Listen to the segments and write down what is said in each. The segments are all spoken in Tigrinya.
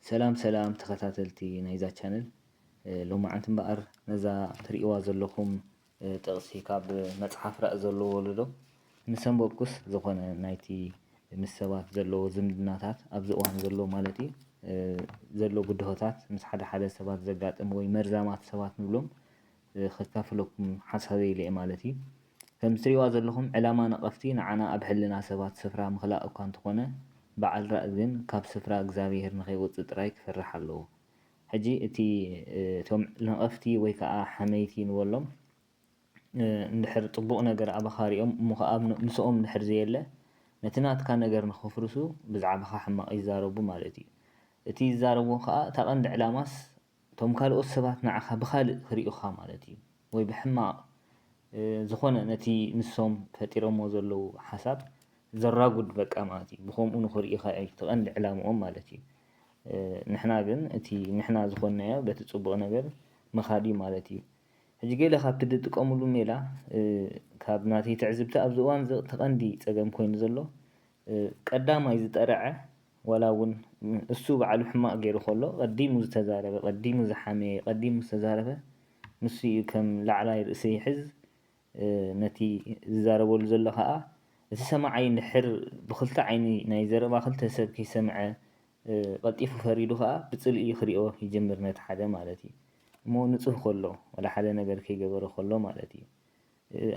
ሰላም ሰላም ተኸታተልቲ ናይዛ ቻነል ሎማዓንቲ እምበኣር ነዛ ትሪእዋ ዘለኹም ጥቕሲ ካብ መጽሓፍ ራኢ ዘሎ ወለዶ ምስ ኣንበብኩስ ዝኾነ ናይቲ ምስ ሰባት ዘለዎ ዝምድናታት ኣብዚ እዋን ዘሎ ማለት እዩ ዘሎ ብድሆታት ምስ ሓደ ሓደ ሰባት ዘጋጥም ወይ መርዛማት ሰባት ንብሎም ከካፍለኩም ሓሳበይ ኢለ'የ ማለት እዩ። ከምዚ ትርእይዋ ዘለኹም ዕላማ ነቐፍቲ ንዓና ኣብ ሕልና ሰባት ስፍራ ምኽላእ እኳ እንተኾነ በዓል ራእ ግን ካብ ስፍራ እግዚኣብሄር ንኸይወጽእ ጥራይ ክፈርሕ ኣለዎ። ሕጂ እቲ እቶም ነቐፍቲ ወይ ከኣ ሓመይቲ ንበሎም እንድሕር ጽቡቕ ነገር ኣባኻ ሪኦም እሞ ከኣ ምስኦም እንድሕር ዘየለ ነቲ ናትካ ነገር ንኸፍርሱ ብዛዕባኻ ሕማቕ ይዛረቡ ማለት እዩ። እቲ ዝዛረብዎ ከኣ እታ ቀንዲ ዕላማስ እቶም ካልኦት ሰባት ንዓኻ ብኻልእ ክርእዩኻ ማለት እዩ ወይ ብሕማቕ ዝኾነ ነቲ ንሶም ፈጢሮሞ ዘለዉ ሓሳብ ዘራጉድ በቃ ማለት እዩ ብኸምኡ ንኽርእዩኻ እዩ ትቐንዲ ዕላምኦም ማለት እዩ ንሕና ግን እቲ ንሕና ዝኾንናዮ በቲ ጽቡቕ ነገር ምኻድ እዩ ማለት እዩ ሕጂ ገለ ካብቲ ዝጥቀምሉ ሜላ ካብ ናተይ ትዕዝብቲ ኣብዚ እዋን እዚ እቲ ቀንዲ ጸገም ኮይኑ ዘሎ ቀዳማይ ዝጠርዐ ዋላ ውን እሱ ባዕሉ ሕማቅ ጌሩ ከሎ ቀዲሙ ዝተዛረበ ቀዲሙ ዝሓመየ ቀዲሙ ዝተዛረበ ንሱ እዩ ከም ላዕላይ ርእሲ ይሕዝ ነቲ ዝዛረበሉ ዘሎ ካኣ እቲ ሰማዓይ እንድሕር ብክልተ ዓይኒ ናይ ዘረባ ክልተ ሰብ ከይሰምዐ ቀልጢፉ ፈሪዱ ካኣ ብጽልኢ ክሪኦ ይጅምር ነቲ ሓደ ማለት እዩ እሞ ንጹህ ከሎ ዋላ ሓደ ነገር ከይገበረ ከሎ ማለት እዩ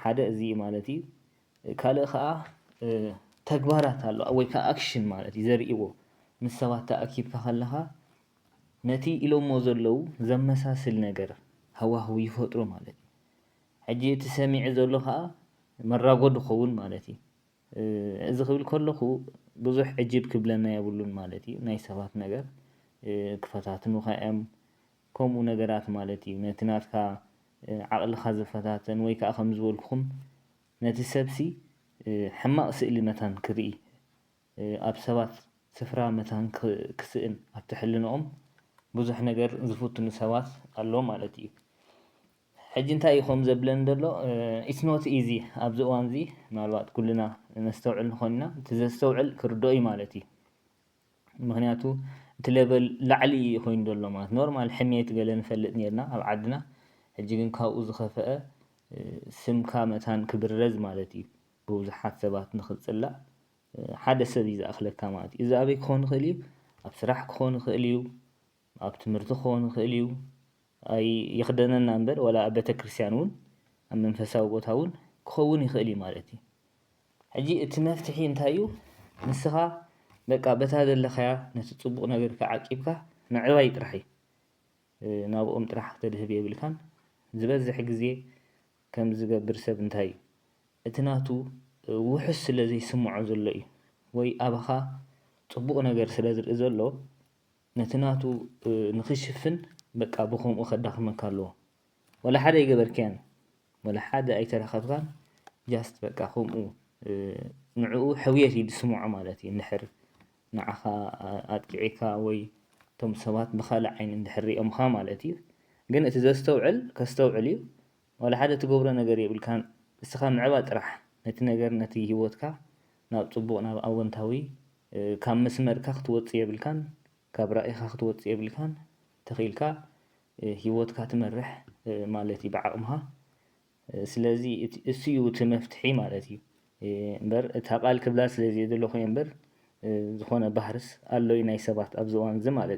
ሓደ እዚ እዩ ማለት እዩ። ካልእ ከኣ ተግባራት ኣሎ ወይ ከኣ ኣክሽን ማለት እዩ ዘርእይዎ ምስ ሰባት ተኣኪብካ ከለኻ ነቲ ኢሎሞ ዘለዉ ዘመሳስል ነገር ሃዋህው ይፈጥሩ ማለት እዩ። ሕጂ እቲ ሰሚዒ ዘሎ ከኣ መራጎ ድኸውን ማለት እዩ። እዚ ክብል ከለኹ ብዙሕ ዕጅብ ክብለና የብሉን ማለት እዩ ናይ ሰባት ነገር ክፈታትኑኻ እዮም ከምኡ ነገራት ማለት እዩ ነቲ ናትካ ዓቕልኻ ዝፈታተን ወይ ከኣ ከም ዝበልኩኹም ነቲ ሰብሲ ሕማቕ ስእሊ መታን ክርኢ ኣብ ሰባት ስፍራ መታን ክስእን ኣብቲ ሕልንኦም ብዙሕ ነገር ዝፍትኑ ሰባት ኣለዉ ማለት እዩ ሕጂ እንታይ እዩ ከምኡ ዘብለኒ ዘሎ ኢትስ ኖት ኢዚ ኣብዚ እዋንዚ ምናልባት ኩልና ነስተውዕል ንኾን ኢና እቲ ዘስተውዕል ክርድኦ እዩ ማለት እዩ ምክንያቱ እቲ ለበል ላዕሊ ኢዩ ኮይኑ ዘሎ ማለት ኖርማል ሕሜት ገለ ንፈልጥ ኔርና ኣብ ዓድና ሕጂ ግን ካብኡ ዝከፈኣ ስምካ መታን ክብረዝ ማለት ኢዩ ብብዙሓት ሰባት ንክትጽላእ ሓደ ሰብ ኢዩ ዝኣክለካ ማለት ኢዩ እዚ ኣበይ ክኮን ይክእል ኢዩ ኣብ ስራሕ ክኮን ይክእል ኢዩ ኣብ ትምህርቲ ክኮን ይክእል ኢዩ ኣይ ይኽደነና እምበር ዋላ ኣብ ቤተክርስትያን እውን ኣብ መንፈሳዊ ቦታ እውን ክኸውን ይኽእል እዩ ማለት እዩ። ሕጂ እቲ መፍትሒ እንታይ እዩ ንስኻ በቃ በታ ዘለኻያ ነቲ ጽቡቕ ነገርካ ዓቂብካ ምዕባይ ጥራሕ እዩ። ናብኦም ጥራሕ ክተድህብ የብልካን። ዝበዝሕ ግዜ ከምዚ ዝገብር ሰብ እንታይ እዩ እቲ ናቱ ውሑስ ስለ ዘይስምዖ ዘሎ እዩ ወይ ኣባኻ ጽቡቕ ነገር ስለ ዝርኢ ዘሎ፣ ነቲ ናቱ ንኽሽፍን በቃ ብኸምኡ ከዳኽመካ ኣለዎ ወላ ሓደ ኣይገበርካያን ወላ ሓደ ኣይተረኸብካን ጃስት በቃ ከምኡ ንዕኡ ሕውየት እዩ ዝስምዖ ማለት እዩ እንድሕር ንዓኻ ኣጥቂዒካ ወይ እቶም ሰባት ብካልእ ዓይኒ እንድሕር ሪኦምኻ ማለት እዩ ግን እቲ ዘስተውዕል ከስተውዕል እዩ ዋላ ሓደ ትገብሮ ነገር የብልካን እስኻ ምዕባጥ ጥራሕ ነቲ ነገር ነቲ ሂወትካ ናብ ጽቡቅ ናብ ኣወንታዊ ካብ መስመርካ ክትወጽእ የብልካን ካብ ራኢኻ ክትወጽእ የብልካን ተኺኢልካ ሂወትካ ትመርሕ ማለት እዩ ብዓቅምኻ ስለዚ እሱ እዩ እቲ መፍትሒ ማለት እዩ እምበር እታ ቃል ክብላ ስለ ዘይደለኹ እየ እምበር ዝኾነ ባህርስ ኣሎዩ ናይ ሰባት ኣብዚ እዋን እዚ ማለት እዩ።